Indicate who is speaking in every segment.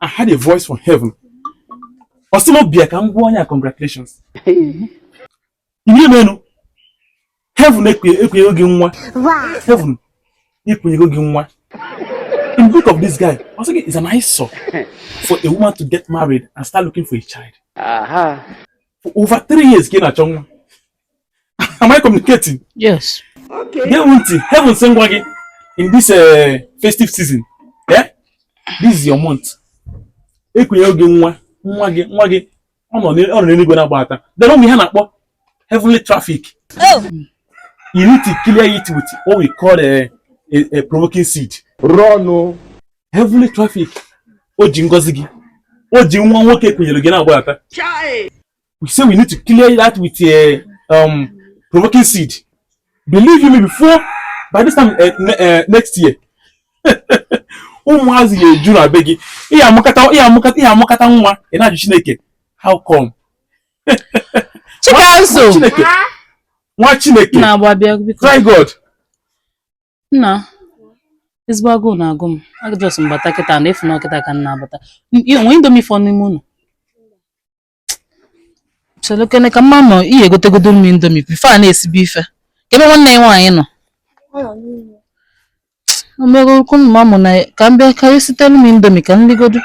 Speaker 1: I heard a voice from heaven. Ọ sị mụ bịa ka m gwa onye a congratulations. Ihe menụ. Heaven ekunyego gị nwa. Heaven ekunyego gị nwa. In the book of this guy, it's an eyesore for a woman to get married and start looking for a child. Aha. For over three years, gị na-achọ nwa. am I communicating? Yes.
Speaker 2: Okay. Gee
Speaker 3: ntị, heaven sị m
Speaker 1: gwa gị in this uh, festive season. Yeah? This is your month. Ekunyego gị nwa, nwa gị, nwa gị, ọ nọ n'eluigwe na-agba ata. Then ụmụ ihe a na-akpọ heavenly traffic.
Speaker 2: Oh. You
Speaker 1: need to clear it with what we call a, a, a provoking seed. Run. Oh.
Speaker 4: Heavenly
Speaker 1: traffic. O ji ngozi gị. O ji nwa nwoke e kunyere gị na-agba ata. we say we need to clear that with a uh, um, provoking seed. Believe you me, before by this time uh, ne uh, next year, ụmụazị ya eju na be gị ị ya-amụkata ị ya-amụkata ị ya-amụkata nwa ị na-ajụ Chineke how come? Chikanso Chineke nwaa Chineke try
Speaker 2: God. Nna ezigbo agụụ na-agụ m a just m bata kịta na ị fụ na ọ kịta ka m na-abata nwee indomi fọ n'ime ụlọ chere kene ka m ma ma ị ya-egotegodu m indomi before a na-esibe ife kee ebe nwanne ị nwaanyị nọ omego okwu mma mụ na ka m bịa ka e sitere m indomi ka m ligodu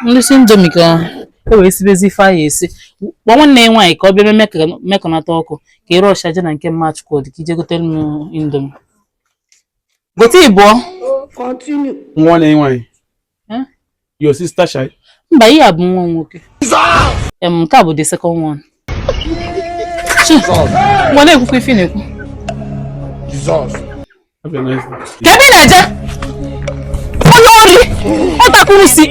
Speaker 2: m lisi indomi ka e wee sibezi ife a ya-esi kpọọ nwanne ị nwaanyị ka ọ bịa mee ka- mekọnata ọkụ ka ị rush-a jee na nke mama Chukwudi ka i je gotere m indomi gote ịbụọ Continue.
Speaker 3: nwanne ị nwaanyị
Speaker 1: your sister child mba ihe a bụ
Speaker 2: nwa nwoke em nke a bụ the second one ngwa na-ekwukwa ife ị na-ekwu
Speaker 1: kedu ebe ị na-eje onye ori
Speaker 2: otu a ka unu si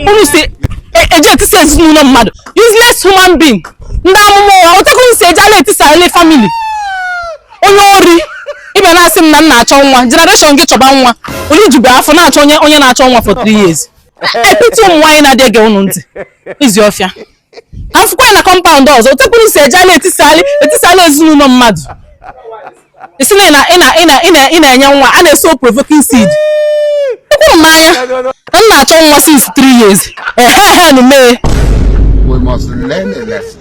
Speaker 2: eje etisa ezinụlọ mmadụ useless human being ndị amụma ụgha otu a ka unu si eje ala etisali family onye ori ị bịa na-asị m na m na-achọ nwa generation gị chọba nwa onye jube afọ na-achọ onye onye na-achọ nwa for three years I pity ụmụ nwaanyị na-adị ege unu ntị ezi ọfịa ka m fụkwa gị na compound ọzọ otu a ka unu si eje ala etisali etisali ezinụlọ mmadụ ị sị na ị na- ị na- ị na- ị na- ị na-enye nwa a na-asow provoking seed ekwuru m n'anya na m na-achọ nwa since three
Speaker 4: years ehe ehe
Speaker 2: nu mee
Speaker 4: We
Speaker 2: must
Speaker 4: learn a
Speaker 2: lesson.